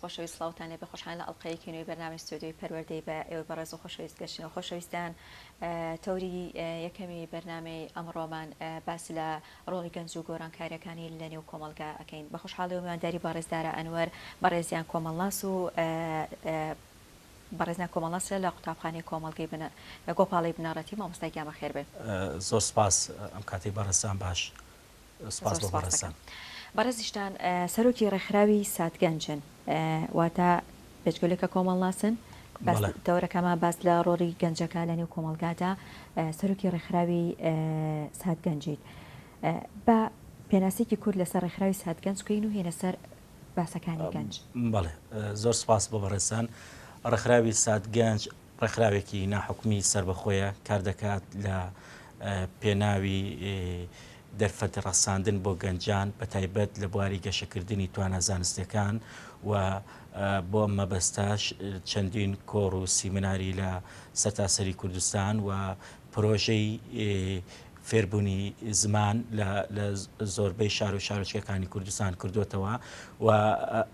خۆشەویست سلااوان لێ بەخۆشحان لە ئەڵلقەیەکی نوێی بەنامی ستۆدیۆی پەروەردەی بە ئێوە بەڕێز و خۆشەویست گەشتنەوە خۆشەویستان تەوری یەکەمی بەرنمەی ئەمڕۆمان باس لە ڕۆڵی گەنج و گۆرانکارەکانی لە نێو کۆمەڵگا ئەکەین. بە خوشحاڵیەوە میوانداری بەڕێز دارا ئەنوەر بەڕێزیان کۆمەڵناس و بەڕێزیان کۆمەڵناس لە لە قوتابخانەی کۆمەڵگەی بنە گۆپاڵەی بنەڕەتی مامۆستا گیان بەخێر بێ. زۆر سپاس ئەم کاتەی بەڕێزتان باش سپاس بۆ بەڕێزتان. بەڕێزیشتان سەرۆکی ڕێکخراوی سات گەنجن واتە پێچگەلێک کە کۆمەڵناسن باس بەڵێ. تەوەرەکەمە باس لە ڕۆری گەنجەکە لە نێو کۆمەڵگادا ئە، سەرۆکی ڕێکخراوی ئە، ساتگەنجیت ئە، با پێناسەیەکی کورت لەسەر ڕێکخراوی ساتگەنج بکەین و هێنە سەر باسەکانی گەنج. بەڵێ زۆر سوپاس بۆ بەڕێزتان ڕێکخراوی ساتگەنج، ڕێکخراوێکی ناحکومی سەربەخۆیە کاردەکات لە پێناوی دەرفەت ڕەساندن بۆ گەنجان بە تایبەت لە بواری گەشەکردنی توانا زانستیەکان و بۆ ئەم مەبەستاش چەندین کۆڕ و سیمناری لە سەرتاسەری کوردستان و پرۆژەی فێربوونی زمان لە لە زۆربەی شار و شارۆچکەکانی کوردستان کردووەتەوە و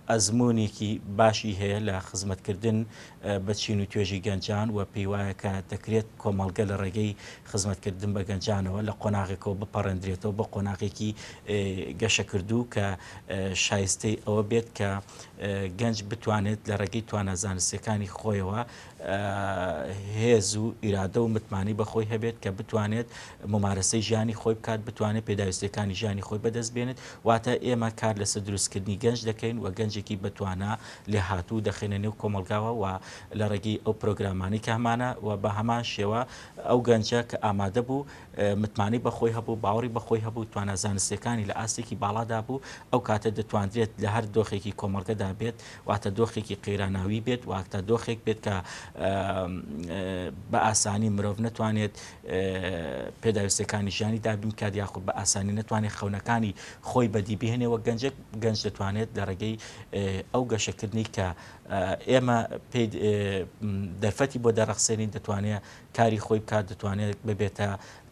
ئەزموونێکی باشی هەیە لە خزمەتکردن بە چین و توێژی گەنجان و پێی وایە کە دەکرێت کۆمەڵگە لە ڕێگەی خزمەتکردن بە گەنجانەوە لە قۆناغێکەوە بپەڕێندرێتەوە بە قۆناغێکی گەشەکردوو کە شایستەی ئەوە بێت کە گەنج بتوانێت لە ڕێگەی توانە زانستیەکانی خۆیەوە هێز و ئیرادە و متمانەی بەخۆی هەبێت کە بتوانێت ممارەسەی ژیانی خۆی بکات بتوانێت پێداویستیەکانی ژیانی خۆی بەدەست بێنێت واتە ئێمە کار لەسەر دروستکردنی گەنج دەکەین و گەنجێکی بەتوانا لێ هاتوو دەخێنە نێو کۆمەلگاوە و لە ڕێگەی ئەو پرۆگرامانی کە هەمانە و بە هەمان شێوە ئەو گەنجە کە ئامادە بوو متمانەی بەخۆی هەبوو باوەڕی بەخۆی هەبوو توانە زانستیەکانی لە ئاستێکی باڵادا بوو ئەو کاتە دەتواندرێت لە هەر دۆخێکی کۆمەلگەدا بێت واتە دۆخێکی قەیراناوی بێت، واتە دۆخێک بێت کە بە ئاسانی مرۆڤ نەتوانێت پێداویستەکانی ژیانی دابین بکات یاخود بە ئاسانی نەتوانێت خەونەکانی خۆی بەدی بهێنێ وە گەنجێک گەنج دەتوانێت لە ڕێگەی ئەو گەشەکردنی کە ئێمە دەرفەتی بۆ دەرەخسێنین دەتوانێت کاری خۆی بکات دەتوانێت ببێتە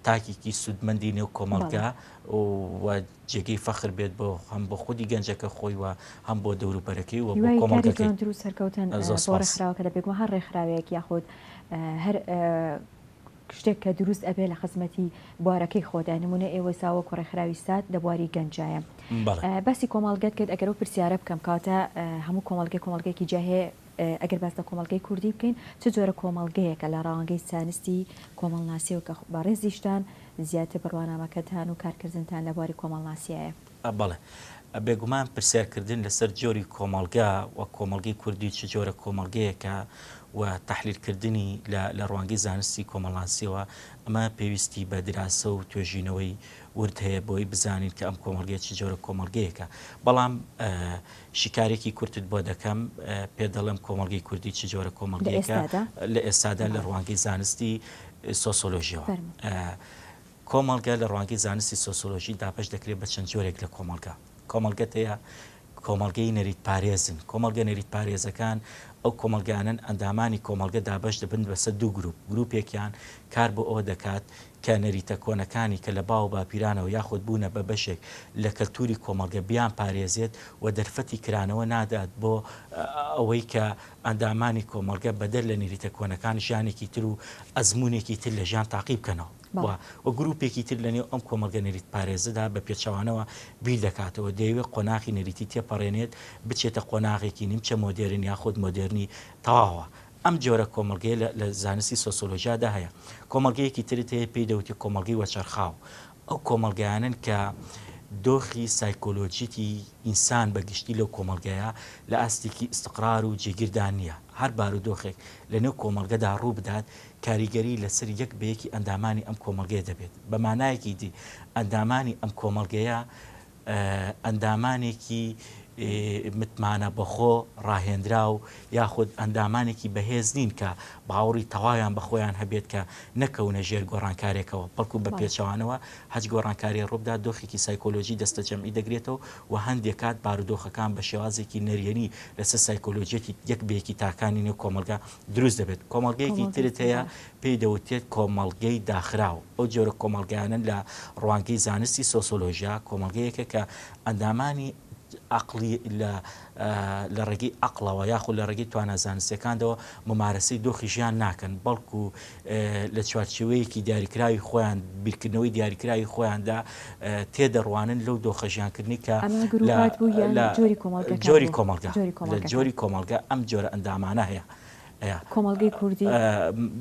تاکێکی سوودمەندی نێو کۆمەڵگا و جێگەی فەخر بێت بۆ هەم بۆ خودی گەنجەکە خۆی و هەم بۆ دەوروبەرەکەی و بۆ کۆمەڵگەکەی. هیوای کاری جوانتر و سەرکەوتن بۆ ڕێکخراوەکە دە بێگومان هەر ڕێکخراوێک یاخود هەر شتێک کە دروست ئەبێ لە خزمەتی بوارەکەی خۆدا نمونە ئێوە سا وەکو ڕێکخراوی سات لە بواری گەنجایە باسی کۆمەڵگەت کرد ئەگەرو پرسیارە بکەم کاتە هەموو کۆمەڵگە کۆمەڵگەێکی جاهێ ئەگەر باس لە کۆمەڵگەی کوردی بکەین، چ جۆرە کۆمەڵگەیەکە لە ڕەوانگەی زانستی کۆمەڵناسییەوە کە بەڕێزیشتان زیاتر بڕوانامەکەتان و کارکردنتان لە بواری کۆمەڵناسییایە؟ بەڵێ، بێگومان پرسیارکردن لەسەر جۆری کۆمەڵگە و کۆمەڵگەی کوردی چ جۆرە کۆمەڵگەیەکە و تەحلیلکردنی لە لە ڕوانگەی زانستی کۆمەڵناسییەوە، ئەمە پێویستی بە دراسە و توێژینەوەی ورد هەیە بۆی بزانین کە ئەم کۆمەڵگەیە چ جۆرە کۆمەڵگەیەکە. بەڵام، شیکارێکی کورتت بۆ دەکەم، پێت دەڵێم کۆمەڵگەی کوردی چ جۆرە کۆمەڵگەیەکە لە ئێستادا لە ڕوانگەی زانستی سۆسۆلۆژیەوە. کۆمەڵگە لە ڕوانگەی زانستی سۆسۆلۆژی دابەش دەکرێت بە چەند جۆرێک لە کۆمەڵگە. کۆمەڵگەت هەیە کۆمەڵگەی نەریت پارێزن، کۆمەڵگە نەریت پارێزەکان ئەو کۆمەڵگانەن ئەندامانی کۆمەڵگە دابەش دەبن بەسەر دوو گروپ، گروپێکیان کار بۆ ئەوە دەکات کە نەریتە کۆنەکانی کە لە باو و باپیرانەوە یاخود بوونە بە بەشێک لە کەلتووری کۆمەڵگە بیانپارێزێت و دەرفەتی کرانەوە نادات بۆ ئەوەی کە ئەندامانی کۆمەڵگە بەدەر لە نەریتە کۆنەکان ژیانێکی تر و ئەزموونێکی تر لە ژیان تاقی بکەنەوە و و گرووپێکی تر لە نێو ئەم کۆمەڵگە نەریتپارێزەدا بە پێچەوانەوە بیر دەکاتەوە دەیەوێت قۆناخی نەریتی تێپەڕێنێت بچێتە قۆناغێکی نیمچە مۆدێرن یاخود مۆدێرنی تەواوە ئەم جۆرە کۆمەڵگەیە لە لە زانستی سۆسۆلۆژیادا هەیە. کۆمەڵگەیەکی ترت هەیە پێی دەوترێت کۆمەڵگەی وەچەرخاو. ئەو کۆمەڵگایانەن کە دۆخی سایکۆلۆژیی ئینسان بە گشتی لەو کۆمەڵگەیە لە ئاستێکی ئیستقرار و جێگیردا نییە. هەر بارودۆخێک لەنێو کۆمەڵگەدا ڕوو بدات، کاریگەری لەسەر یەک بە یەکی ئەندامانی ئەم کۆمەڵگەیە دەبێت. بە مانایەکی دی ئەندامانی ئەم کۆمەڵگەیە، ئەندامانێکی متمانە بەخۆ ڕاهێنراو یاخود ئەندامانێکی بەهێز نین کە باوەڕی تەواویان بە خۆیان هەبێت کە نەکەونە ژێر گۆڕانکارێکەوە بەڵکو بە پێچەوانەوە هەچ گۆڕانکارێ ڕووبدا دۆخێکی سایکۆلۆژی دەستەجەمعی دەگرێتەوە و هەندێک کات بارودۆخەکان بە شێوازێکی نەریێنی لەسەر سایکۆلۆژیەتی یەک بە یەکی تاکانی نێو کۆمەڵگا دروست دەبێت کۆمەڵگەیەکی ترت هەیە پێی دەوترێت کۆمەڵگەی داخراو، ئەو جۆرە کۆمەڵگایانەن لە ڕوانگەی زانستی سۆسۆلۆژیا، کۆمەڵگەیەکە کە ئەندامانی ئەقڵی لە لە ڕێگەی ئەقڵەوە یاخود لە ڕێگەی توانا زانستیەکاندەوە ممارەسەی دۆخی ژیان ناکەن بەڵکو لە چوارچێوەیەکی دیاریکراوی خۆیان بیرکردنەوەی دیاریکراوی خۆیاندا تێدەڕوانن لەو دۆخە ژیانکردنی کە لە جۆری کۆمەڵگە لە جۆری کۆمەڵگە ئەم جۆرە ئەندامانە هەیە. کۆمەڵگەی کوردی؟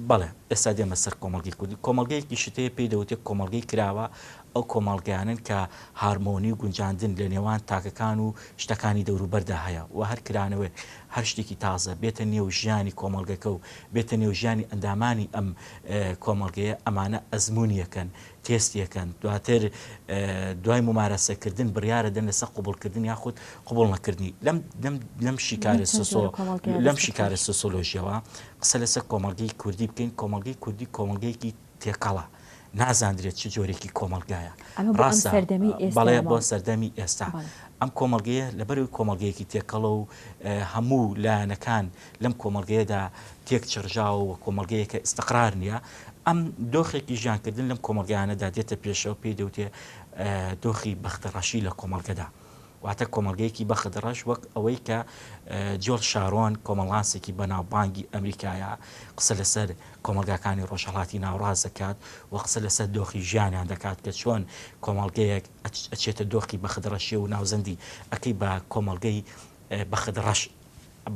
بەڵێ، ئێستا دێمە سەر کۆمەڵگەی کوردی. کۆمەڵگەیەکی شتەیە پێی دەوترێت کۆمەڵگەی کراوە، ئەو کۆمەڵگەیانەن کە هارمۆنی و گونجاندن لە نێوان تاکەکان و شتەکانی دەوروبەردا هەیە و هەر کرانەوەیەک، هەر شتێکی تازە بێتە نێو ژیانی کۆمەڵگەکە و بێتە نێو ژیانی ئەندامانی ئەم کۆمەڵگەیە، ئەمانە ئەزموونییەکەن تێستی ئەکەن دواتر دوای مومارەسە کردن بڕیارە دەن لەسە قوبڵ کردن یاخود قوبڵ نەکردنی لەم لەم شیکارە سۆ لەم شیکارە سۆسۆلۆژیەوە قسە لەسە کۆمەڵگەی کوردی بکەین کۆمەڵگەی کوردی کۆمەڵگەیەکی تێکەڵە نازاندرێت چ جۆرێکی کۆمەلگایە ڕاستە بەڵێ بۆ سەردەمی ئێستا ئەم کۆمەلگەیە لەبەرو کۆمەلگەیەکی تێکەڵە و هەموو لایەنەکان لەم کۆمەڵگەیەدا تێک چڕژاوە و کۆمەڵگەیە کە ئیستقرار نییە ئەم دۆخێکی ژیانکردن لەم کۆمەلگایانەدا دێتە پێشەوە پێی دەوتێ دۆخی بەختە ڕەشی لە کۆمەلگەدا واتە کۆمەلگەیەکی بەخت ڕەش وەک ئەوەی کە جۆر شارۆن کۆمەڵاسێکی بەناوبانگی ئەمریکایە قسە لەسەر کۆمەلگاکانی ڕۆژهڵاتی ناوڕاز دەکات و قسە لەسەر دۆخی ژیانیان دەکات کە چۆن کۆمەلگەیەک ئەچێتە دۆخی بەخت ڕەشی و ناوزەندی ئەکەی بە کۆمەلگەی بەخت ڕەش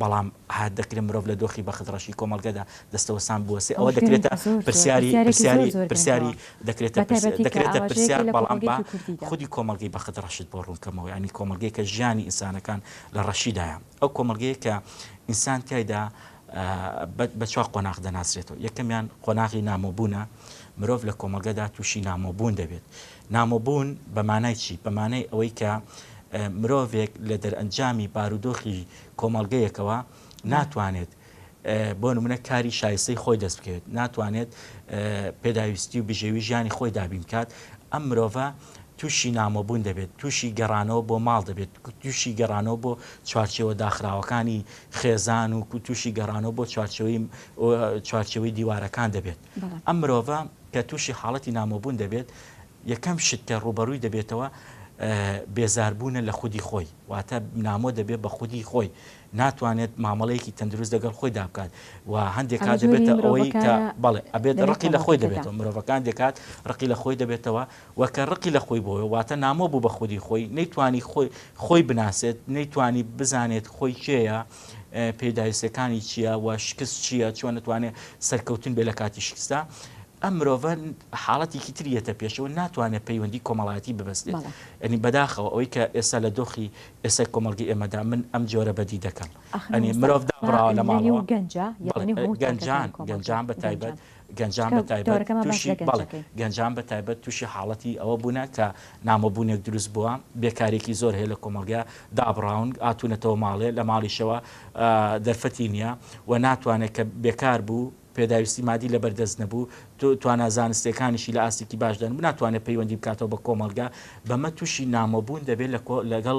بەڵام هات دەکرێت مرۆڤ لە دۆخی بەخت ڕەشی کۆمەڵگەدا دەستەوەستان بوەستێت ئەوە دەکرێتە پرسیاری پرسیاری پرسیاری دەکرێتە دەکرێتە پرسیار بەڵام با خودی کۆمەڵگەی بەخت ڕەشت بۆ ڕوونکەمەوە ینی کۆمەڵگەی کە ژیانی ئینسانەکان لە ڕەشیدایە ئەو کۆمەڵگەیە کە ئینسان تایدا بە چوار قۆناغ دەناسرێتەوە یەکەمیان قۆناغی نامۆبوونە مرۆڤ لە کۆمەڵگەدا تووشی نامۆبوون دەبێت نامۆبوون بە مانای چی؟ بە مانای ئەوەی کە مرۆڤێک لە دەرئەنجامی بارودۆخی کۆمەڵگەیەکەوە ناتوانێت بۆ نمونە کاری شایستەی خۆی دەست بکەوێت ناتوانێت پێداویستی و بژێوی ژیانی خۆی دابین بکات ئەم مرۆڤە تووشی نامۆبوون دەبێت تووشی گەڕانەوە بۆ ماڵ دەبێت تووشی گەڕانەوە بۆ چوارچەوە داخراوەکانی خێزان و تووشی گەڕانەوە بۆ چوارچەوەی چوارچەوەی دیوارەکان دەبێت ئەم مرۆڤە کە تووشی حاڵەتی نامۆبوون دەبێت یەکەم شت کە ڕوبەڕووی دەبێتەوە بێزاربوونە لە خودی خۆی واتە نامۆ دەبێت بە خودی خۆی ناتوانێت مامەڵەیەکی تەندروست دەگەڵ خۆی دابکات و هەندێک کات دەبێتە ئەوەی کە بەڵێ ئەبێت ڕقی لە خۆی دەبێتەوە مرۆڤەکان دەکات ڕقی لە خۆی دەبێتەوە وەکە ڕقی لە خۆی بۆی واتە نامۆ بوو بە خودی خۆی نەیتوانی خۆی خۆی بناسێت نەیتوانی بزانێت خۆی کێە پێداویستیەکانی چییە و شکست چییە چۆن نتوانێت سەرکەوتن بێ لە کاتی شکستدا ئەم مرۆڤە حاڵەتێکی تریەتە پێشەوە ناتوانێت پەیوەندی کۆمەڵایەتی ببستێت ئەنی بەداخەوە ئەوەی کە ئێستا لە دۆخی ئێستا کۆمەلگی ئێمەدا من ئەم جۆرە بەدی دەکەم ئەنی مرۆڤ دابڕاوە لە ماڵەوە گەنجان گەنجان بە تایبەت گەنجان بە تایبەت تووشی بەڵێ گەنجان بە تایبەت تووشی حاڵەتی ئەوە بوونە کە نامۆبوونێک دروست بووە بێکارێکی زۆر هەیە لە کۆمەڵگە دابڕاون ئاتونەتەوە ماڵێ لە ماڵیشەوە دەرفەتی نییە و ناتوانێت کە بێکار بوو پێداویستی مادی لە بەردەست نەبوو توانا زانستەکانیشی لە ئاستێکی باشدان بناتوانێت پەیوەندی بکاتەوە بە کۆمەلگا بەمە تووشی نامۆبوون دەبێت لەگەڵ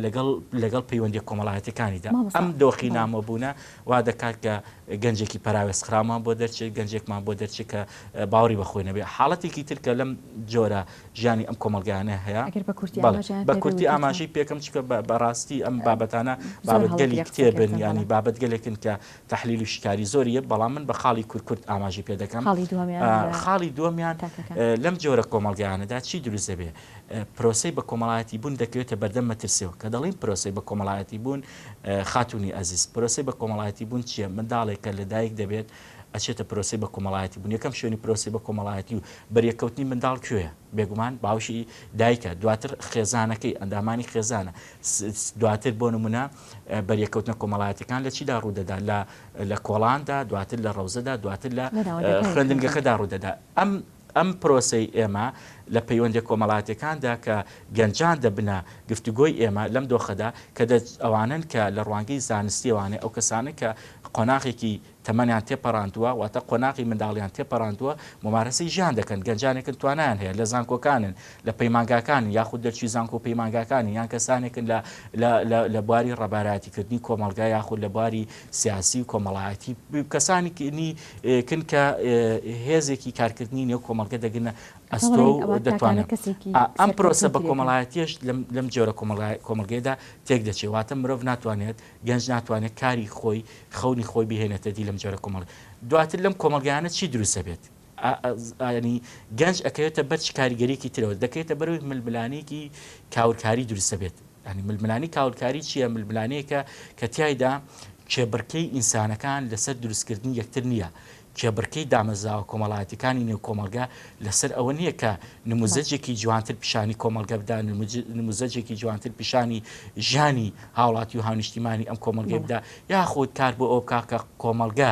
لەگەڵ لەگەڵ پەیوەندی کۆمەڵایەتەکانیدا ئەم دۆخی نامۆبوونە وا دەکات کە گەنجێکی پەراوێزخراومان بۆ دەرچێت، گەنجێکمان بۆ دەرچێت کە باوەڕی بە خۆی نەبێت. حاڵەتێکی تر کە لەم جۆرە ژیانی ئەم کۆمەڵگایانە هەیە. ئەگەر بە کورتی ئاماژەیان پێ بکەیت. بە کورتی ئاماژەی پێ بکەم چونکە بە ڕاستی ئەم بابەتانە بابەتگەلی کتێبن یانی بابەتگەلێکن کە تەحلیل و شیکاری زۆری هەیە بەڵام من بە خاڵی کورت کورت ئاماژەی پێ دەکەم. خاڵی دووەمیان لە. خاڵی دووەمیان لەم جۆرە کۆمەڵگایانەدا چی دروست دەبێت؟ پرۆسەی بەکۆمەڵایەتی بوون دەکەوێتە بەردەم مەترسییەوە. کە دەڵێین پرۆسەی بەکۆمەڵایەتی بوون خاتوونی ئەزیز، پرۆسەی بەکۆمەڵایەتیبوون چییە؟ منداڵێک کە لە دایک دەبێت ئەچێتە پرۆسەی بەکۆمەڵایەتیبوون، یەکەم شوێنی پرۆسەی بەکۆمەڵایەتی و بەریەککەوتنی منداڵ کوێیە؟ بێگومان باوکی دایکە، دواتر خێزانەکەی، ئەندامانی خێزانە، دواتر بۆ نموونە بەریەککەوتنە کۆمەڵایەتیەکان لە چیدا ڕوودەدات؟ لە کۆڵاندا، دواتر لە ڕەوزەدا، دواتر لە خوێندنگەکەدا ڕوودەدات. ئەم ئەم پرۆسەی ئێمە لە پەیوەندیە کۆمەڵاتیەکاندا کە گەنجان دەبنە گفتوگۆی ئێمە لەم دۆخەدا کە دەچ ئەوانەن کە لە ڕوانگەی زانستیەوانێ ئەو کەسانە کە قۆناغێکی تەمەنیان تێپەڕاندوە واتە قۆناغی منداڵیان تێپەڕاندوە مومارەسەی ژیان دەکەن گەنجانێکن توانایان هەیە لە زانکۆکانن لە پەیمانگاکانن یاخود دەرچوی زانکۆ و پەیمانگاکانی یان کەسانێکن لە لە لە لە بواری ڕەبارایەتی کردنی کۆمەڵگا یاخود لە بواری سیاسی و کۆمەڵایەتی و کەسانی نی کن کە هێزێکی کارکردنی نێو کۆمەڵگە دەگرنە ئەستۆ و دەتوانێت کەسێکی ئەم پرۆسە بە کۆمەڵایەتیش لەم جۆرە کۆمەڵگەیدا تێک دەچێت واتە مرۆڤ ناتوانێت گەنج ناتوانێت کاری خۆی خەونی خۆی بهێنێتە دی لەم جۆرە کۆمەڵ دواتر لەم کۆمەلگانە چی دروستە بێت ئازادیخوازانەی گەنج ئەکەوێتە بەر چ کاریگەریەکی ترەوە، دەکەوێتە بەرەوەی ململانێکی کاولکاری دروست دەبێت، ململانێی کاولکاری چیە؟ ململانێیەکە کە تیایدا کێبڕکێی ئینسانەکان لەسەر دروستکردنی یەکتر نیە، کێبڕکێی دامەزراوە کۆمەڵایەتیەکانی نێو کۆمەڵگە لەسەر ئەوە نیە کە نموزەجێکی جوانتر پیشانی کۆمەڵگە بدا، نموزەجێکی جوانتر پیشانی ژیانی هاوڵاتی و هاونیشتیمانی ئەم کۆمەڵگەی بدا، یاخود کار بۆ ئەوە بکا کە کۆمەڵگە.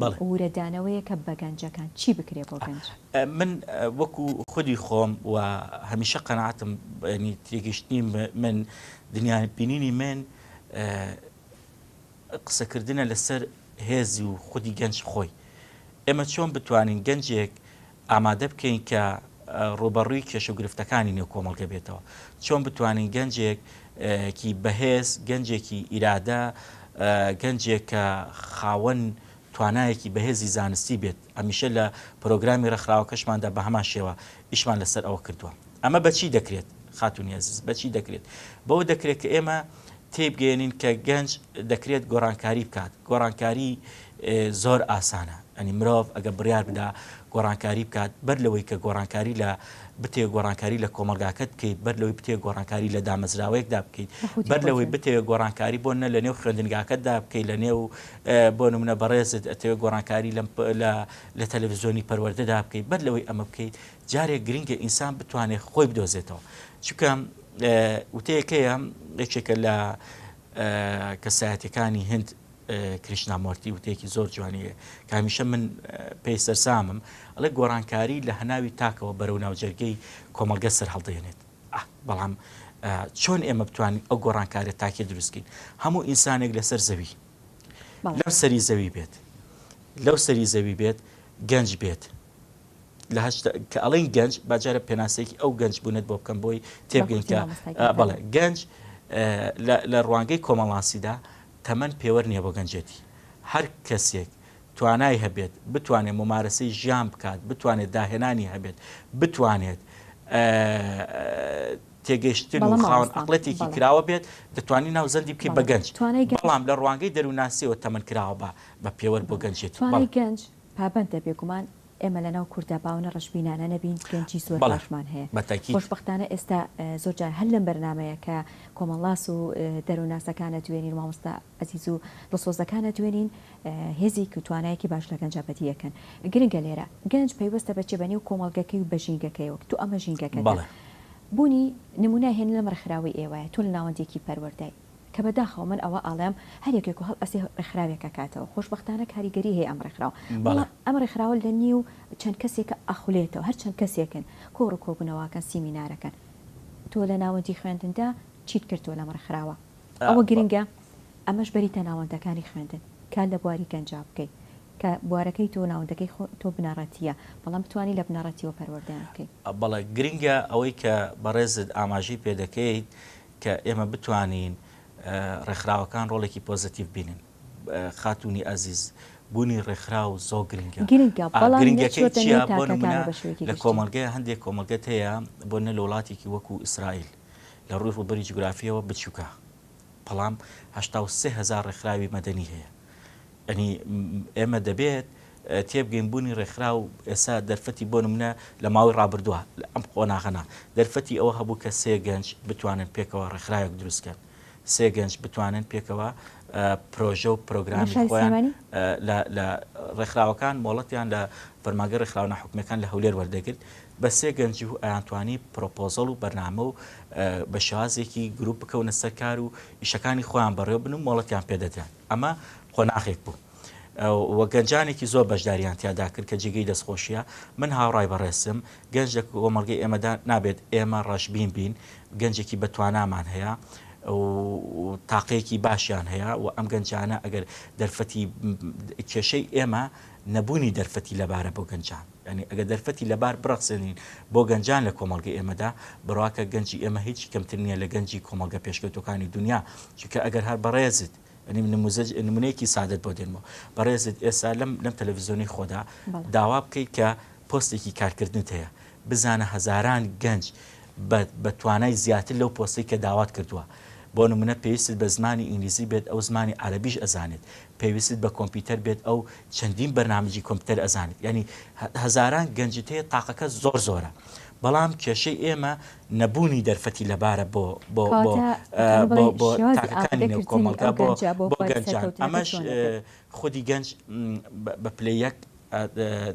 بەڵێ. وورەدانەوەیەکە بە گەنجەکان، چی بکرێ بۆ گەنج؟ من وەکو خودی خۆم و هەمیشە قەناعەتم یانی تێگەیشتنی من دنیا بینینی من قسەکردنە لەسەر هێز و خودی گەنج خۆی. ئێمە چۆن بتوانین گەنجێک ئامادە بکەین کە ڕووبەڕووی کێشە و گرفتەکانی نێو کۆمەڵگە بێتەوە، چۆن بتوانین گەنجێک کی بەهێز، گەنجێکی ئیرادە، گەنجێک کە خاوەن توانایەکی بەهێزی زانستی بێت، هەمیشە لە پرۆگرامی ڕێکخراوەکەشماندا بە هەمان شێوە ئیشمان لەسەر ئەوە کردووە. ئەمە بە چی دەکرێت خاتوونی ئەزیز، بە چی دەکرێت؟ بەوە دەکرێت کە ئێمە تێیبگەیەنین کە گەنج دەکرێت گۆڕانکاری بکات، گۆڕانکاری زۆر ئاسانە، ئەنی مرۆڤ ئەگە بڕیار بدا گۆڕانکاری بکات بەر لەوەی کە گۆڕانکاری لە بتێ گۆڕانکاری لە کۆمەلگاکەت بکەیت بەر لەوەی بتێ گۆڕانکاری لە دامەزراوەیەکدا بکەیت بەر لەوەی بتەوێ گۆڕانکاری بۆ نە لە نێو خوێندنگاکەتدا بکەیت لە نێو بۆ نمونە بەڕێزت ئەتەوێ گۆڕانکاری لە لە تەلەڤزیۆنی پەروەردەدا بکەیت بەر لەوەی ئەمە بکەیت جارێ گرنگە ئینسان بتوانێت خۆی بدۆزێتەوە چکە وتەیەکەیە یەکێکە لە کەسایەتەکانی هند کریشنامۆرتی وتێکی زۆر جوانیە کامیشە من پێی سەرسامم ئەڵێ گۆڕانکاری لە هەناوی تاکەوە بەرەو ناوجەرگەی کۆمەلگە سەر هەڵدێنێت بەڵام چۆن ئێمە بتوانین ئەو گۆڕانکارە تاکی دروستکەین هەموو ئینسانێک لەسەر زەوی لەم سەری زەوی بێت لەو سەری زەوی بێت گەنج بێت لە هەشتا کە ئەڵێن گەنج با جارە پێناسەیەکی ئەو گەنج بوونت بۆ بکەم بۆی تێبگەین کە بەخۆشی مامۆستای بەڵێ گەورە. گەنج اه، لە لە ڕوانگەی کۆمەڵناسیدا تەمەن پێوەر نییە بۆ گەنجێتی هەر کەسێک توانای هەبێت بتوانێت مومارەسەی ژیان بکات بتوانێت داهێنانی هەبێت بتوانێت اه، تێگەیشتن بەڵێ و خاوەن مامۆستا، عەقڵێتێکی بەڵێ. کراوە بێت دەتوانی ناوزەندی بکەی بە بەڵێ. گەنج توانای گەنج- بەڵام لە ڕوانگەی دەروونناسیەوە تەمەن کراوە بە بە پێوەر بۆ گەنجێتی بەڵێ توانای گەنج پابەندە بێگومان ئێمە لەناو کورددا باونە ڕەشبینانە نەبین گەنجی زۆر بەڵێ باشمان هەیە بە تەکید. خۆشبەختانە ئێستا زۆر جار هەر لەم بەرنامەیە کە کۆمەڵناس و دەرونناسەکان ئەدوێنین مامۆستا ئەزیز و دڵسۆزەکان ئەدوێنین هێزیک و توانایەکی باش لە گەنجا بەدی ئەکەن گرنگە لێرە گەنج پەیوەستە بە چێ بە نێو کۆمەڵگەکەی و بە ژینگەکەی وەک تۆ ئەمە ژینگەکەتە بەڵێ. بونی نمونای هێنلەم ڕێکخراوەی ئێوەیە تۆ لە ناوەندێکی پەروەردەی. کە بە داخەوە من ئەوە ئاڵێم هەر یەکێک و هەڵ ئەسێ ڕێکخراوێک ئەکاتەوە خۆشبەختانە کاریگەری هەیە ئەم ڕێکخراوە بەڵا ئەم ڕێکخراوە لە نیو چەند کەسێکە ئەخولێتەوە هەر چەند کەسێکن کۆڕ و کۆبونەواکەن سیمینارەکەن تۆ لە ناوەندی خوێندندا چیت کردوە لەم ڕێکخراوە ئەوە گرنگە ئەمەش بەریتە ناوەندەکانی خوێندن کار لە بواری گەنجا بکەی کە بوارەکەی تۆ ناوەندەکەی خۆ تۆ بنەڕەتیە بەڵام بتوانی لە بنەڕەتیەوە پەروەردەیان بکەی. بەڵێ گرنگە ئەوەی کە بەڕێزت ئاماژەی پێدەکەیت کە ئێمە بتوانین ڕێکخراوەکان ڕۆڵێکی پۆزەتیڤ بینن خاتوونی ئازیز بوونی ڕێکخراو زۆر گرنگە گرنگەکەی چیە بۆ نمونە لە کۆمەلگەی هەندێک کۆمەلگەت هەیە بۆ نە لە وڵاتێکی وەکو ئیسرائیل لە ڕووی ڕوبەری جوگرافیەوە بچووکە بەڵام هەشتا و سێ هەزار ڕێکخراوی مەدەنی هەیە ئەنی ئێمە دەبێت تێبگەین بوونی ڕێکخراو ئێستا دەرفەتی بۆ نمونە لە ماوەی ڕابردووە لە ئەم قۆناغەنا دەرفەتی ئەوە هەبوو کە سێ گەنج بتوانن پێکەوە ڕێکخراوێک دروست کەن سێ گەنج بتوانن پێکەوە پرۆژە و پرۆگرامی خۆیان لە ڕێکخراوەکان مۆڵەتیان لە فەرماگە ڕێکخراوە ناحکومەکان لە هەولێر وەردەگرت بە سێ گەنج و ئەیانتوانی پرۆپۆزەڵ و بەرنامە و بە شازێکی گروپ بکەونە سەرکار و ئیشەکانی خۆیان بەڕێ بن و مۆڵەتیان پێدەدران ئەمە قۆناغێک بوو و گەنجانێکی زۆر بەشداریان تیادا کرد کە جێگەی دەستخۆشیە من هاوڕای بەڕێزم گەنج لە کۆمەڵگەی ئێمەدا نابێت ئێمە ڕەشبین بین گەنجێکی بەتوانامان هەیە تاقەیەکی باشیان هەیە و ئەم گەنجانە ئەگەر دەرفەتی کێشەی ئێمە نەبوونی دەرفەتی لەبارە بۆ گەنجان ینی ئەگە دەرفەتی لەبار بڕەخسێنین بۆ گەنجان لە کۆمەلگە ئێمەدا بڕواکە گەنجی ئێمە هیچی کەمتر نییە لە گەنجی کۆمەلگە پێشکەوتەکانی دنیا چکە ئەگەر هەر بەڕێزت ئەنیم نموزەج نمونەیەکی سادەت بۆ دێنمەوە بەڕێزت ئێستا لەم لەم تەلەڤزیۆنی خۆدا داوا بکەیت کە پۆستێکی کارکردنت هەیە بزانە هەزاران گەنج بە توانای زیاتر لەو پۆستی کە داوات کردووە بۆ نمونە پێویست بە زمانی ئینگلیزی بێت ئەو زمانی عربیش ئەزانێت پێویست بە کۆمپیوتەر بێت ئەو چەندین بەرنمەجی کۆمپیوتەر ئەزانێت ینی هەزاران گەنجتەیە تاقەکە زۆر زۆرە بەڵام کێشەی ئێمە نەبوونی دەرفەتی لەبارە بۆ بۆ بۆ بۆ بۆ تاکەکانی نێو کۆمەڵگا بۆ بۆ گەنجان ئەمەش خودی گەنج بە پلەی یەک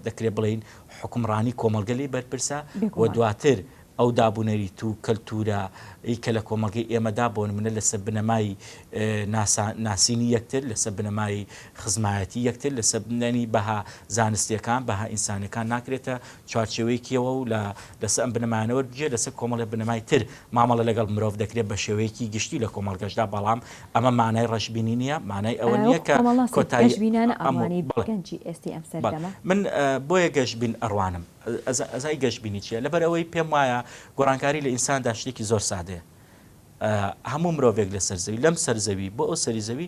دەکرێت بڵین حکومڕانی کۆمەلگەلی بەرپرسە و دواتر ئەو دابوونەریت و کەلتورە ئی کە لە کۆمەلگەی ئێمەدا بۆن منە لەسەر بنەمای ناسینی یەکتر لەسەر بنەمای خزمایەتی یەکتر لەسەر بنەنی بەها زانستیەکان بەها ئینسانەکان ناکرێتە چوارچێوەیەکیەوە و لە لەسە ئەم بنەمایانە وەربگیرێت لەسەر کۆمەڵێ بنەمای تر مامەڵە لەگەڵ مرۆڤ دەکرێت بە شێوەیەکی گشتی لە کۆمەڵگەشدا بەڵام ئەمە مانای ڕەشبینی نیە مانای ئەوە نیە کە کۆتایی ئەم بەڵێ بەڵێ من بۆیە گەشبین ئەڕوانم ئەزای گەشبینی چیە لەبەر ئەوەی پێم وایە گۆڕانکاری لە ئینساندا شتێکی زۆر سادەیە هەموو مرۆڤێک لەسەر زەوی لەم سەر زەوی بۆ ئەو سەری زەوی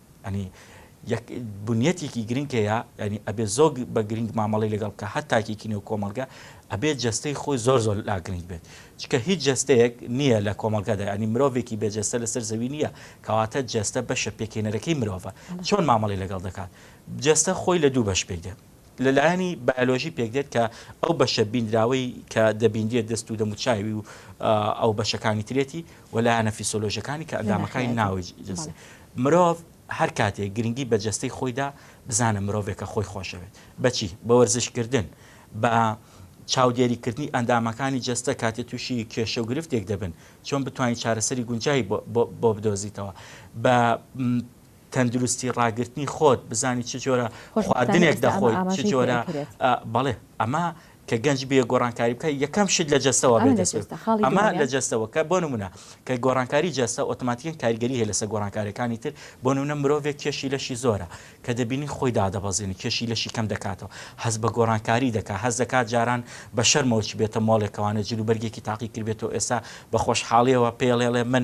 یانی یەک بنیەتێکی گرنگ هەیە یانی ئەبێ زۆر بە گرنگ مامەڵی لەگەڵ بکە هەر تاکێکی نێو کۆمەڵگە ئەبێت جەستەی خۆی زۆر زۆر لا گرنگ بێت چکە هیچ جەستەیەک نییە لە کۆمەڵگەدا ینی مرۆڤێکی بێ جەستە لەسەر زەوی نییە کەواتە جەستە بەشە پێکێنەرەکەی مرۆڤە چۆن مامەڵی لەگەڵ دەکات جەستە خۆی لە دوو بەش پێک دێت لە لایەنی بایۆلۆژی پێکدێت کە ئەو بەشە بیندراوەی کە دەبیندرێت دەست و دەموچاوی و ئەو بەشەکانی ترێتی و لایەنە فیسۆلۆژەکانی کە ئەندامەکانی ناوی جنسی مرۆڤ هەر کاتێک گرنگی بە جەستەی خۆیدا بزانە مرۆڤێکە خۆی خۆشەوێت بەچی بە وەرزشکردن بە چاودێریکردنی ئەندامەکانی جەستە کاتێ تووشی کێشە و گرفتێک دەبن چۆن بتوانین چارەسەری گونجایی بۆ بدۆزیتەوە بە تەندروستی ڕاگرتنی خۆت بزانی چ جۆرە خواردنێک دەخۆی چ جۆرە بەڵێ ئەمە کە گەنج بێ گۆڕانکاری بکە یەکەم شت لە جەستەوە ئەمە لە جەستەوەکە بۆ نمونە کە گۆڕانکاری جەستە ئۆتۆماتیکن کاریگەری هەیە لەسە گۆڕانکارەکانی تر بۆ نمونە مرۆڤێک کێشی لەشی زۆرە کە دەبینی خۆی دادەبەزێنی کێشی لەشی کەم دەکاتەوە هەز بە گۆڕانکاری دەکات هەز دەکات جاران بە شەرمەوەچ بێتە مۆڵێکەوانە جلوبەرگێکی تاقی کردبێتەوە ئێستا بە خۆشحاڵیەوە پێڵێڵێ من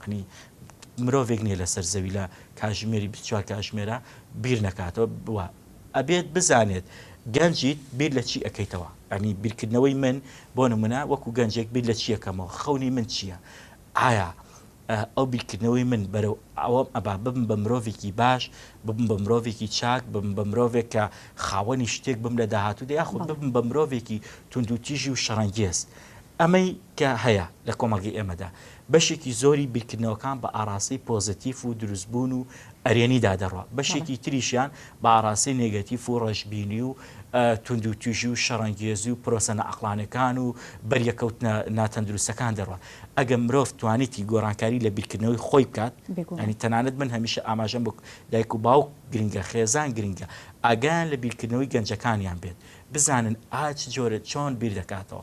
یەعنی مرۆڤێک نیە لەسەر زەوی لە کاژمێری بیست چوار کاژمێرە بیر نەکاتەوە بوە ئەبێت بزانێت گەنجیت بیر لە چی ئەەکەیتەوە یعنی بیرکردنەوەی من بۆ نمونە وەکو گەنجێک بیر لە چیەکەمەوە خەونی من چییە ئایا ئەو بیرکردنەوەی من بەرەو ئەوەم ئەبا بم بە مرۆڤێکی باش ببم بە مرۆڤێکی چاک بم بە مرۆڤێک کە خاوەنی شتێک بم لە داهاتوودا یاخود ببم بە مرۆڤێکی توندوتیژی و شەڕەنگێز ئەمەی کە هەیە لە کۆمەڵگەی ئێمەدا بەشێکی زۆری بیرکردنەوەکان بە ئاراستەی پۆزەتیف و دروستبوون و ئەرێنیدا دەڕوا، بەشێکی تریشیان بە ئاراستەی نێگەتیف و ڕەشبینی و توندوتیژی و شەڕەنگێزی و پرۆسە نائەقڵانیەکان و بەریەکەوتنە ناتەندروستەکان دەڕوا. ئەگەر مرۆڤ توانیتی گۆڕانکاری لە بیرکردنەوەی خۆی بکات، یانی تەنانەت من هەمیشە ئاماژەم بە دایک و باوک گرنگە، خێزان گرنگە، ئاگایان لە بیرکردنەوەی گەنجەکانیان بێت، بزانن ئا چ جۆرە چۆن بیردەکاتەوە،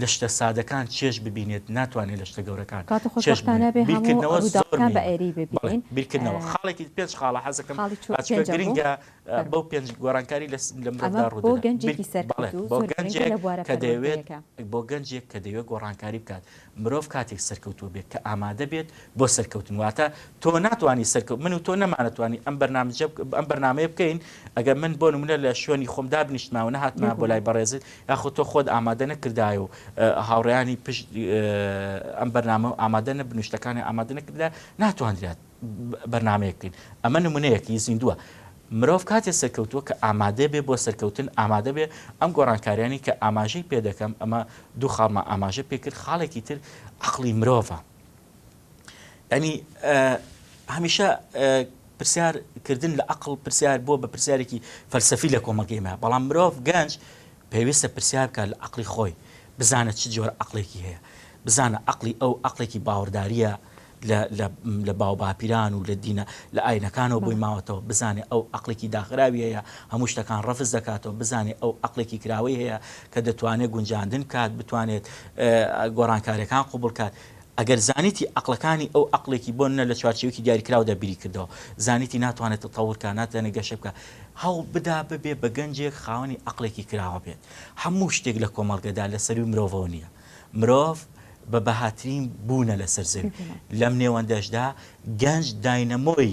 لە شتە سادەکان چێژ ببینێت ناتوانێت لە شتە گەورەکان کاتو چێژ خوشبختانە ببینێت بێ هەموو بیرکردنەوە زۆر ڕوداوەکان بە مهمە ئێری بڵێ ببینین بیرکردنەوە خاڵێکی پێنج خاڵە حەزەکەم خاڵی چو ئەچکە پێنجەم بوو گرنگە فەرموو بەو پێنج گۆرانکاری لە لە ئەمە مرۆڤدا بۆ ڕودەدات بیر گەنجێکی بەڵێ سەرکەوتوو بۆ زۆر گرنگە گەنجێک لە بوارە کە دەیەوێت پەروەردەیەکە. بۆ گەنجێک کە دەیەوێت گۆڕانکاری بکات مرۆڤ کاتێک سەرکەوتوو بێت کە ئامادە بێت بۆ سەرکەوتن واتە تۆ ناتوانی سەرکەوت من و تۆ نەمانەتوانی ئەم بەرنامجە بک ئەم بەرنامەیە بکەین ئەگەر من بۆ نمونە لە شوێنی خۆم دابنیشتماوە نەهاتمایە بۆ لای بێگومان بەڕێزت یاخود تۆ خۆت ئامادە نەکردایە و هاوڕێیانی پشت ئەم بەرنامە ئامادە نەبن و شتەکانی ئامادە نەکردە ناتواندرات بەرنمەیە بکەین ئەمە نمونەیەکی زیندووە مرۆڤ کاتێ سەرکەوتووە کە ئامادە بێ بۆ سەرکەوتن ئامادە بێ ئەم گۆڕانکاریانی کە ئاماژەی پێ دەکەم ئەمە دوو خاڵمە ئاماژە پێکرد خاڵێکی تر عقلی مرۆڤە یانی هەمیشە پرسیار کردن لە عقل پرسیار بۆ بە پرسیارێکی فەلسەفی لە کۆمەڵگەیمە بەڵام مرۆڤ گەنج پێویستە پرسیار بکە لە عقلی خۆی بزانە چ جۆر عقلێکی هەیە بزانە عقلی ئەو عقلێکی باوەڕداریە لە باو باپیران و لە دینە لە ئاینەکانەوە بۆی ماوەتەوە بزانێ ئەو عقلێکی داخراوی هەیە هەموو شتەکان ڕفز دەکاتەوە بزانێ ئەو عقلێکی کراوەی هەیە کە دەتوانێت گونجاندن کات بتوانێت گۆڕانکارەکان قوبڵکات ئەگەر زانیتی ئەقڵەکانی ئەو ئەقڵێکی بۆ نە لە چوارچێوەیەکی دیاریکراودا بیری کردەوە، زانیتی ناتوانێت تەتەور کا، ناتوانێت گەشە بکا، هەوڵ بدا ببێ بە گەنجێک خاوەنی ئەقڵێکی کراوە بێت. هەموو شتێک لە کۆمەڵگەدا لە سەروی مرۆڤەوە نییە. مرۆڤ بە بەهاترین بوونە لەسەر زەوی. لەم نێوەندەشدا گەنج داینەمۆی.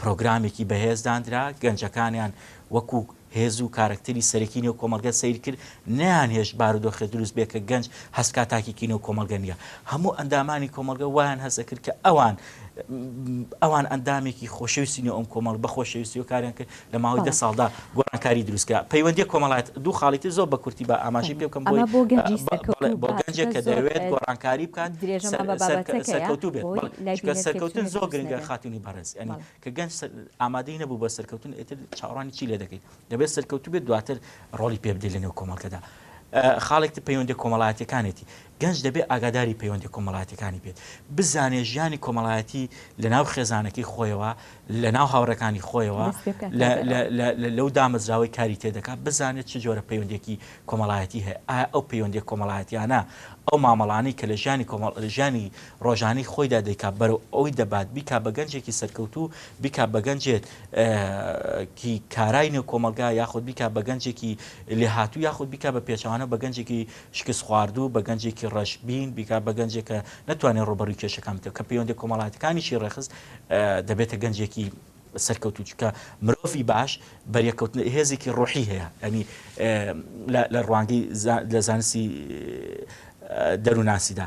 پرۆگرامێکی بەهێز داندرا، گەنجەکانیان وەکو هێز و کارەکتەری سەرەکی نێو کۆمەڵگە سەیر کرد، نەیانهێشت بارودۆخێ دروست بێ کە گەنج هەست کا تاکێکی نێو کۆمەڵگە نییە. هەموو ئەندامانی کۆمەڵگە وایان هەست ئەکرد کە ئەوان ئەوان ئەندامێکی خۆشەویستی نێو ئەم کۆمەڵ بە خۆشەویستیەوە کاریان کرد لە ماوەی دە ساڵدا گۆڕانکاری دروست کرا. پەیوەندیە کۆمەڵایەت، دوو خاڵی تر زۆر بە کورتی با ئاماژەی پێ بکەم بۆی، بەڵێ بۆ گەنجێک کە دەیەوێت گۆڕانکاری بکات سەرکەوتوو بێت، بەڵێ چونکە سەرکەوتن زۆر گرنگە خاتوونی بەڕێز، یانی کە گەنج ئامادەی نەبوو بە سەرکەوتن ئیتر چاوەڕوانی چی لێ دەکەیت، دەبێت سەرکەوتوو بێت دواتر ڕۆڵی پێ بدەیت لەنێو کۆمەڵگەدا. خاڵێک تر پەیوەندیە کۆمەڵایەتیەکانێتی، گەنج دەبێ ئاگاداری پەیوەندیە کۆمەڵایەتیەکانی بێت، بزانێ ژیانی کۆمەڵایەتی لە ناو خێزانەکەی خۆیەوە، لە ناو هاوڕێکانی خۆیەوە، لەو دامەزراوەی کاری تێدەکات، بزانێت چ جۆرە پەیوەندێکی کۆمەڵایەتی هەیە، ئایا ئەو پەیوەندیە کۆمەڵایەتیانە ئەو مامەڵانەی کە لە ژیانی ژیانی ڕۆژانی خۆیدا دەیکات بەرەو ئەوی دەبات بیکا بە گەنجێکی سەرکەوتو بیکا بە گەنجێت کی کارای نێو کۆمەلگا یاخود بیکا بە گەنجێکی لێهاتوو یاخود بیکا بە پێچوانە بە گەنجێکی شکستخواردوو، بە گەنجێکی ڕەشبین، بیگا بە گەنجێک کە نەتوانێت ڕووبەڕووی کێشەکان بکرێت، کە پەیوەندییە کۆمەڵایەتیەکانیشی ڕێکخست، دەبێتە گەنجێکی سەرکەوتوو، چونکە مرۆڤی باش بەریەککەوتن هێزێکی ڕۆحی هەیە، یانی لە ڕوانگەی لە زانستی دەروونناسیدا،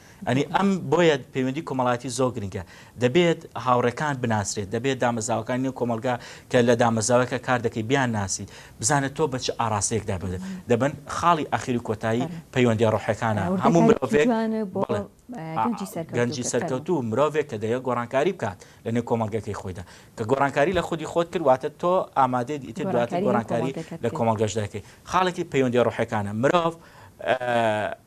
ئەنی ئەم بۆیە پەیوەندی کۆمەڵایەتی زۆر گرنگە دەبێت هاوڕێکان بناسرێت دەبێت دامەزاوەکان نێو کۆمەلگا کە لە دامەزاوەکە کار دەکەی بیان ناسی بزانێت تۆ بە چ ئاراستەیەک دابێت دەبن خاڵی ئاخیری کۆتایی پەیوەندی ڕۆحەکانە هەموو مرۆڤێک گەنجی سەرکەوت و مرۆڤێک کە دەیە گۆڕانکاری بکات لە نێو کۆمەلگەکەی خۆیدا کە گۆڕانکاری لە خودی خۆت کردواتە تۆ ئامادەیت ئیتر دواتر گۆڕانکاری لە کۆمەلگەش دەکەی خاڵێکی پەیوەندی ڕۆحەکانە مرۆڤ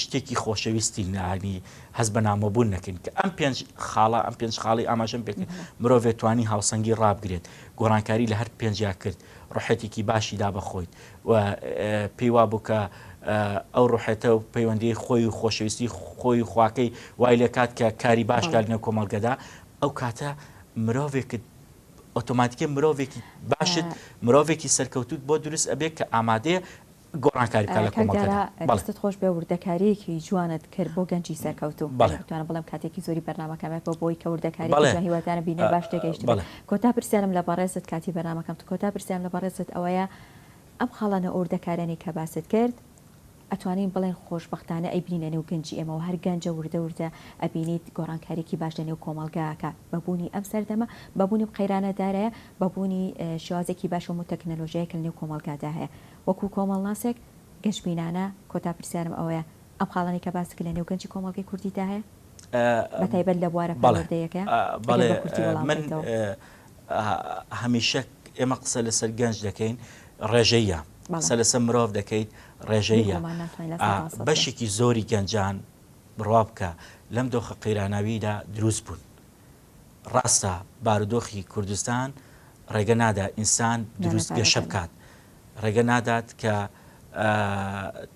شتێکی خۆشەویستی نانی هەز بە نامۆبوون نەکەین کە ئەم پێنج خاڵە ئەم پێنج خاڵی ئاماژەم پێکرد مرۆڤێت توانی هاوسەنگی ڕابگرێت گۆڕانکاری لە هەر پێنجیا کرد ڕحێتێکی باشی دا بەخۆیت و پێی وا بوو کە ئەو ڕحێتە و پەیوەندی خۆی و خۆشەویستی خۆی خواکەی وای لە کات کە کاری باشکار لە کۆمەڵگەدا ئەو کاتە مرۆڤێکت ئۆتۆماتیکە مرۆڤێکی باشت مرۆڤێکی سەرکەوتوت بۆ دروست ئەبێت کە ئامادەیە گۆڕانکاری بکات لە کاک کۆمەڵگەدا. دارا بەڵێ. دەستت خۆش بێ وردەکاریەکی جوانت کرد بۆ گەنجی سەرکەوتوو بەڵێ. بتوانم بڵێم کاتێکی زۆری بەرنامەکەم بە بۆ بۆی کە وردەکاریەکی بەڵێ. جوان هیوادارم بینەر باش تێگەیشت بێ بەڵێ. کۆتا پرسیارم لە بەڕێزت کاتی بەرنامەکەم تە کۆتا پرسیارم لە بەڕێزت ئەوەیە ئەم خاڵە نە وردەکاریانەی کە باست کرد ئەتوانین بڵێن خۆش بەختانە ئەیبینینە نێو گەنجی ئێمە وە هەر گەنجە وردە وردە ئەبینیت گۆڕانکاریەکی باش لە نێو کۆمەڵگا ئەکا بە بوونی ئەم سەردەمە بە بوونی ئەم قەیرانە دارایە بە بوونی شێوازێکی باش ئەم تەکنەلۆژیایە کە لە نێو کۆمەڵگادا هەیە وەکو کۆمەڵناسێک گەشبینانە کۆتا پرسیارم ئەوەیە، ئەم خاڵانەی کە باست کرد لە نێو گەنجی کۆمەڵگەی کوردیدا هەیە؟ بە تایبەت لە بوارە پەروەردەیەکە؟ ئەگەر بە کورتی وەڵام بدەیتەوە. بەڵێ. هەمیشە ئێمە قسە لەسەر گەنج دەکەین، ڕێژەییە. قسە لەسەر مرۆڤ دەکەیت، ڕێژەییە. بەشێکی زۆری گەنجان، بڕوا بکە لەم دۆخە قەیراناوییدا دروست بوون. ڕاستە بارودۆخی کوردستان ڕێگە نادا ئینسان دروست گەشە بکات، ڕێگە نادات کە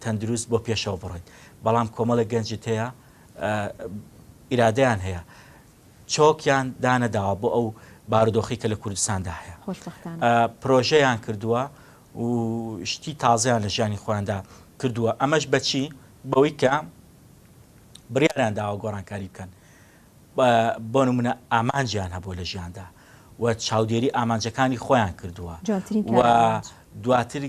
تەندروست بۆ پێشەوە بڕۆیت، بەڵام کۆمەڵە گەنجت هەیە ئیرادیان هەیە چۆکیان دانەداوە بۆ ئەو بارودۆخی کە لە کوردستاندا هەیە پرۆژەیان کردووە و شتی تازیان لە ژیانی خۆیاندا کردووە ئەمەش بەچی بەوەی کە بڕیاریان داوە گۆڕانکاری بکەن بۆ نموونە ئامانجیان هەبووە لە ژیاندا و چاودێری ئامانجەکانی خۆیان کردووە و دواتر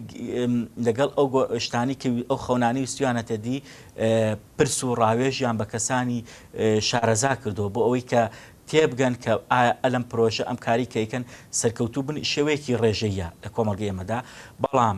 لەگەڵ ئەو شتانی کە ئەو خەونانی وستویانەتە دی پرس و ڕاوێژیان بە کەسانی شارەزا کردو بۆ ئەوەی کە تێبگەن کە ئەلم پرۆژە ئەم کاری کەیکەن سەرکەوتوو بن شێوەیەکی ڕێژەیە لە کۆمەڵگە ئێمەدا بەڵام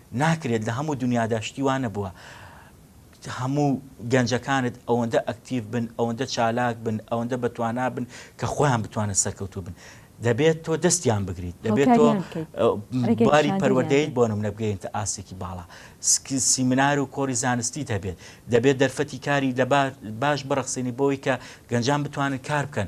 ناکرێت لە هەموو دونیادا شتی وا نەبووە هەموو گەنجەکانت ئەوەندە ئەکتیڤ بن ئەوەندە چالاک بن ئەوەندە بەتوانا بن کە خۆیان بتوانن سەرکەوتوو بن دەبێت تۆ دەستیان بگریت دەبێت تۆ هاوکاریان بکەیت ڕێگە باری نیشاندەریان پەروەردەیت بدەیت. بۆ نمونە بگەیەنتە ئاستێکی باڵا سک- سیمینار و کۆڕی زانستیت هەبێت دەبێت دەرفەتی کاری لە با- باش بڕەخسێنی بۆی کە گەنجان بتوانن کار بکەن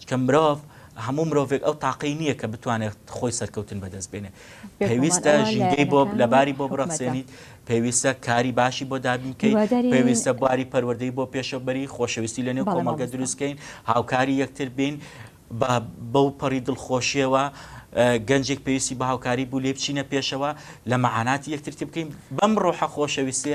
چونکە مرۆڤ هەموو مرۆڤێک ئەو تاقەی نییە کە بتوانێت خۆی سەرکەوتن بەدەست بێنێ پێویستە ژینگەی بۆ لەباری بۆ بڕەخسێنیت پێویستە کاری باشی بۆ دابینکەیت پێویستە باری پەروەردەی بۆ پێشەبەری خۆشەویستی لە نێو کۆمەڵگە دروستکەین هاوکاری یەکتر بین بە بەو پەڕی دڵخۆشیەوە گەنجێک پێویستی بە هاوکاری بوو لێ بچینە پێشەوە لە مەعاناتی یەکترتی بکەین بەم ڕۆحە خۆشەویستێ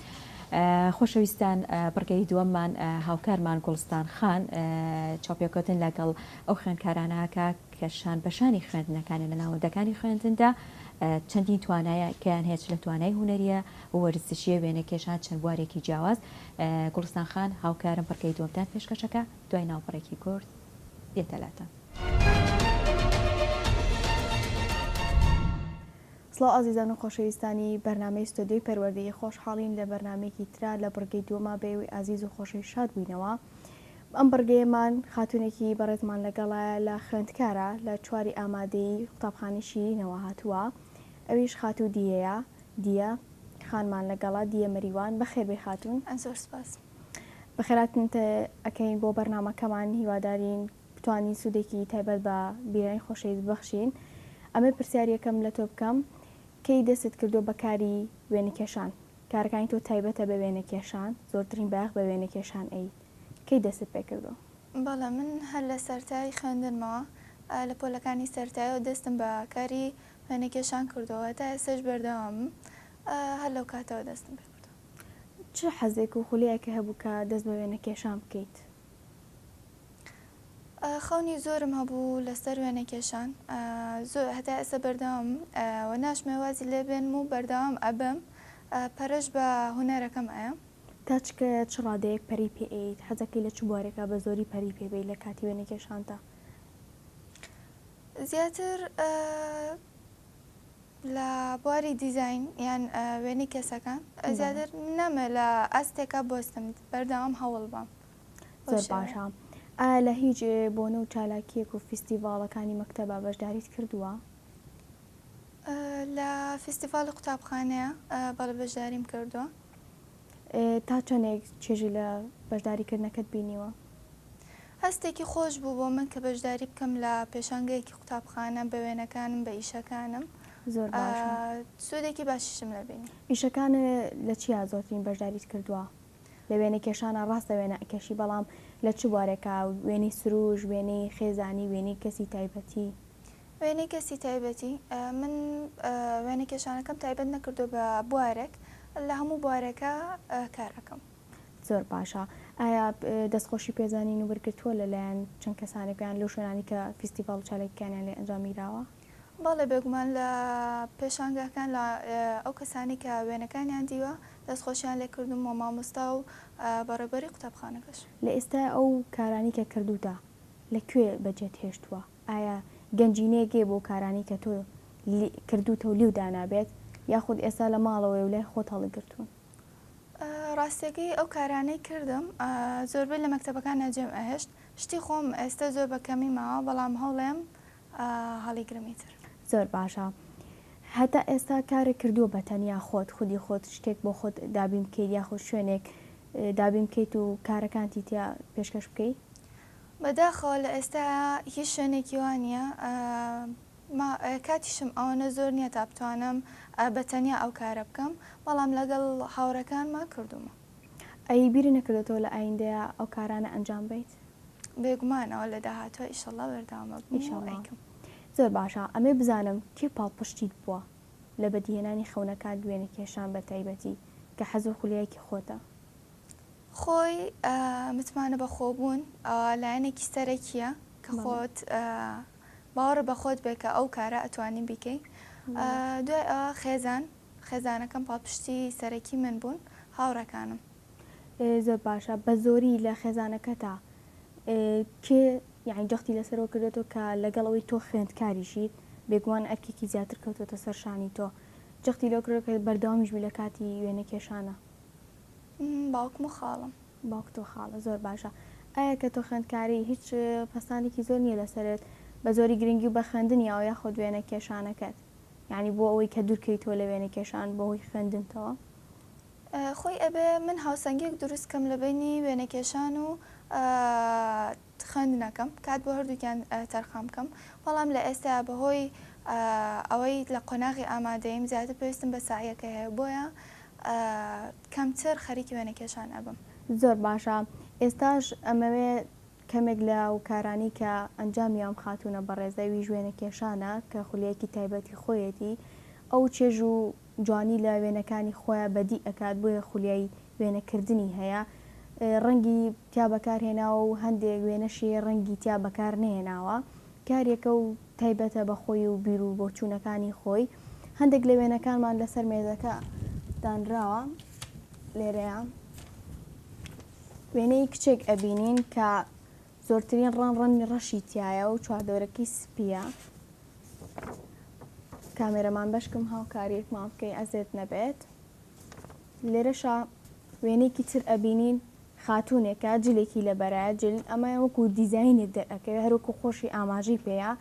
خۆشەویستان بڕگەی دووەممان هاوکارمان گوڵستان خان چاپێکوتن لەگەڵ ئەو خوێندکارانەکە کە شان بەشانی خوێندنەکانی لە ناوەندەکانی خوێندندا چەندین توانایە کەیان هێچ لە توانای هوەریە وەرزشیە وێنە کێشان چەند بوارێکی جیاواز گوڵستان خان هاوکارم بڕگەی دووەمتان پێشکەشەکە دوای ناوپڕێکی کورد دێتەلاتە. سڵاو ئازیزان و خۆشەویستانی بەرنامەی ستۆدیۆی پەروەردەیی خۆشحاڵین لە بەرنامەیەکی ترا لە بڕگەی دووەما بە ئێوەی ئازیز و خۆشەویست شاد بووینەوە ئەم بڕگەیەمان خاتوونێکی بەڕێزمان لەگەڵایە لە خوێندکارە لە چواری ئامادەیی قوتابخانەی شیرینەوە هاتووە ئەویش خاتوو دیەیە دیە خانمان لەگەڵا دیە مەریوان بەخێربێ خاتوون زۆر سپاس بەخێراتنتە ئەکەین بۆ بەرنمەکەمان هیوادارین بتوانین سودێکی تایبەت بە بیرانی خۆشەویست ببەخشین ئەمەی پرسیاریەکەم لەتۆ بکەم کەی دەستت کردوە بە کاری وێنە کێشان کارەکانی تۆ تایبەتە بە وێنە کێشان زۆرترین بایەخ بە وێنە کێشان ئەیت کەی دەستت پێ کردوە؟ بەڵێ من هەر لە سەرتای خوێندنمەوە لە پۆلەکانی سەرتایەوە دەستم بە کاری وێنە کێشان کردوە هەتا ئێستاش بەردەوامم هەر لەو کاتەوە دەستم پێ کردوە. چ حەزێک و خولەیەکی هەبوو کە دەست بە وێنە کێشان بکەیت؟ خەونی زۆرم هەبوو لەسەر وێنەکێشان زۆر هەتا ئێستا بەردەوام و ناشمێ وازی لێ بێنم و بەردەوام ئەبم پەرش بە هونەرەکەم ئەیەم. تا چ کە چ ڕادەیەک پەری پێ ئەیەیت؟ حەزەکەی لە چ بوارێکا بە زۆری پەری پێ بەیت لە کاتی وێنەکێشانتا؟ زیاتر لە بواری دیزاین یان وێنەی کەسەکان زیاتر نامەوێت لە ئاستێکە بۆستم بەردەوام هەوڵ بەم زۆر باشە ئا لە هیچ بۆنە و چالاکیەک و فیستیڤاڵەکانی مەکتەبە بەشداریت کردووە؟ لە فیستیڤاڵی قوتابخانەیە بەڵێ بەشداریم کردووە. تا چەندێک چێژی لە بەشداریکردنەکەت بینیوە؟ هەستێکی خۆش بوو بۆ من کە بەشداری بکەم لە پێشانگەیەکی قوتابخانە بە وێنەکانم بە ئیشەکانم زۆر باشە سوودێکی باشیشم لە بینی ئیشەکانە لە چیا زۆرترین بەشداریت کردووە لە وێنە کێشانە ڕاستە وێنە ئەکێشی بەڵام لە چ بوارێکە وێنەی سروش وێنەی خێزانی وێنەی کەسی تایبەتی وێنەی کەسی تایبەتی، من وێنەکێشانەکەم تایبەت نەکردووە بە بوارێک، لە هەموو بوارێکا کار ئەکەم. زۆر باشە. ئایا دەستخۆشی پێزانین و وەرگرتووە لە لایەن چەند کەسانێک یان لەو شوێنانەی کە فیستیڤاڵ و چالاکیکانیان لێ ئەنجامگیراوە؟ بەڵێ بێگومان لە پێشانگاکان لە ئەو کەسانەی کە وێنەکانیان دیوە دەستخۆشیان لێ کردووم وە مامۆستا و بەڕێوبەری قوتابخانەکەش. لە ئێستای ئەو کارانەی کە کردووتە لە کوێ بە جێت هێشتووە؟ ئایا گەنجینەیەک هەیە بۆ کارانی کە تۆ لی کردووتە و لیو دانابێت یاخود ئێستا لە ماڵەوەی و لای خۆت هەڵیگرتوون؟ ڕاستەکەی ئەو کارانەی کردم زۆربەی لە مەکتەبەکان ناجێم ئەهێشت شتی خۆم ئێستا زۆر بە کەمی ماوە بەڵام هەوڵێم هەڵیگرم ئیتر. زۆر باشە هەتا ئێستا کارێک کردووە بە تەنیا خۆت خودی خۆت شتێک بۆ خۆت دابین بکەیت یاخود شوێنێک دابین بکەیت و کارەکانتی تیا پێشکەش بکەی؟ بەداخەوە لە ئێستایا هیچ شوێنێکی وا نییە. ما کاتیشم ئەوەنە زۆر نییە تا بتوانم بە تەنیا ئەو کارە بکەم، بەڵام لەگەڵ هاوڕێکانما کردوومە. ئەی بیری نەکردۆتەوە لە ئایندەیا ئەو کارانە ئەنجام بەیت؟ بێگومانەوە لە داهاتووا ئیشەڵڵا بەردەوام ئەبم و ئیشەڵڵا. ئەیکەم. زۆر باشە ئەمەی بزانم کێ پاڵپشتیت بووە لە بەدیهێنانی خەونەکانت وێنەکێشان بە تایبەتی کە حەز و خولیایەکی خۆتە؟ خۆی متمانە بەخۆبوون لایەنێکی سەرەکیە کە خۆت باوەڕ بەخۆت بێ کە ئەو کارە ئەتوانی بیکەی دوای ئەوە خێزان خێزانەکەم پاڵپشتی سەرەکی من بوون هاوڕەکانم زۆر باشە بە زۆری لە خێزانەکەتا کێ یعنی جەختی لەسەرەوە کردێتەوە کە لەگەڵ ئەوەی تۆ خوێندکاریشی بێگومان ئەرکێکی زیاتر کەوتوەتە سەرشانی تۆ جەختی لەو کرۆکە بەردەوامیش بوو لە کاتی وێنە کێشانە باوکم و خاڵم. باوکت و خاڵت زۆر باشە ئایا کە تۆ خوێندکاری هیچ پەستانێکی زۆر نیە لەسەرت بە زۆری گرنگی و بە خوێندنیاوە یاخود وێنە کێشانەکەت یانی بۆ ئەوەی کە دوور کەیتەوە لە وێنە کێشان بە هۆی خوێندنتەوە؟ خۆی ئەبێ من هاوسەنگیەک دروست کەم لە بەینی وێنە کێشان و خوێندنەکەم کات بۆ هەردووکیان تەرخان بکەم، بەڵام لە ئێستایا بەهۆی ئەوەی لە قۆناغی ئامادەییم زیاتر پێویستم بە سەعیەکە هەیە بۆیە کەمتر خەریکی وێنەکێشان ئەبم. زۆر باشە ئێستاش ئەمەوێ کەمێک لە و کارانی کە ئەنجامی ئەم خاتوونە بەڕێزە ویش وێنەکێشانە کە خولیەکی تایبەتی خۆیەتی ئەو چێژ و جوانی لە وێنەکانی خۆیا بەدی ئەکات بۆیە خولیای وێنە کردنی هەیە ڕەنگی تیا بەکار هێناوە و هەندێک وێنەشی ڕەنگی تیا بەکار نەهێناوە کارێکە و تایبەتە بە خۆی و بیرو بۆچوونەکانی خۆی هەندێک لە وێنەکانمان لەسەر مێزەکە دانراوە لێرەیە وێنەی کچێک ئەبینین کە زۆرترین ڕەنگ ڕەنگی ڕەشی تیایە و چواردەورەکەی سپیە کامێرەمان بەشکم هاوکاریەکمان بکەی ئەزێت نەبێت لێرەشا وێنێکی تر ئەبینین خاتونێکە جلێکی لە بەرایە جل ئەمە وەکو دیزینێک دەرەکەوێ هەروکو خۆشی ئاماژی پێەیە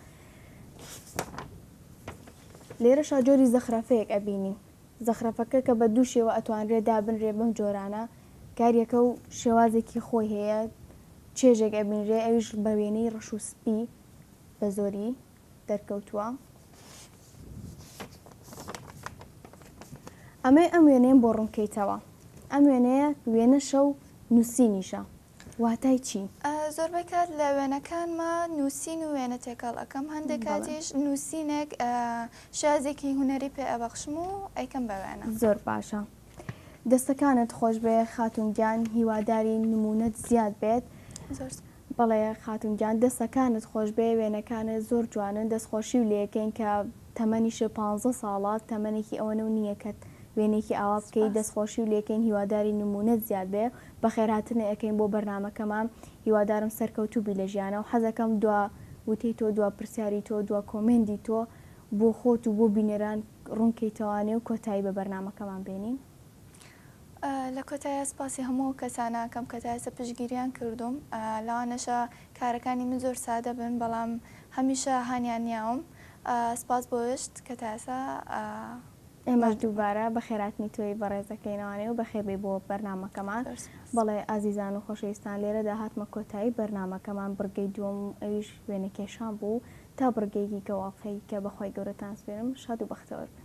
لێرەشا جۆری زەخرەفەیەک ئەبینین زەخرەفەکە کە بە دوو شێوە ئەتوانرێ دابنرێ بەم جۆرانە کاریەکە و شێوازێکی خۆی هەیە چێژێک ئەبینرێ ئەویش بە وێنەی ڕەش و سپی بە زۆری دەرکەوتووە ئەمەی ئەم وێنەیەم بۆ ڕوونکەیتەوە ئەم وێنەیە وێنەشە و نووسینیشە واتای چی؟ زۆربەی کات لە وێنەکانما نووسین و وێنە تێکەڵ ئەکەم، هەندێک کاتیش نووسینێک شازێکی هونەری پێ ئەبەخشم و ئەیکەم بە وێنە. زۆر باشە. دەستەکانت خۆشبێ خاتوون گیان، هیوادارین نموونەت زیاد بێت. زۆر سپاس. بەڵێ خاتوون گیان، دەستەکانت خۆشبێ، وێنەکانت زۆر جوانن، دەستخۆشیو لێکەین کە تەمەنیشت پانزە ساڵە، تەمەنێکی ئەوەنەو نییە کە وێنەیەکی ئاوا بکەی، دەستخۆشیو لێکەین، هیوادارین نموونەت زیاد بێ. بەخێرهاتنێ ئەکەین بۆ بەرنامەکەمان هیوادارم سەرکەوتوبی لە ژیانە و حەزەکەم دوا وتەی تۆ دوا پرسیاری تۆ دوا کۆمێندی تۆ بۆ خۆت و بۆ بینەران ڕونکەیتەوا نێو کۆتایی بە بەرنامەکەمان بێنین. لە کۆتاییا سپاسی هەموو ئەو کەسانە ئەکەم کە تا ئێستا پشتگیریان کردووم لەوانەشە کارەکانی من زۆر سادە بن بەڵام هەمیشە هانیان نیاوم سپاس بۆ وشت کە تا ئێسا ئێمەش دووبارە بەخێرهاتنی تۆی بەڕێز دەکەینەوانێ و بەخێربێی بۆ بەرنامەکەمان. بەڵێ ئازیزان و خۆشەویستان لێرەدا هاتمە کۆتایی بەرنامەکەمان بڕگەی دووەم و ئەویش وێنەکێشان بوو تا بڕگەیەکی کە واقعی کە بەخوای گەورەتان سپێرم شاد و بەختەوەر بن.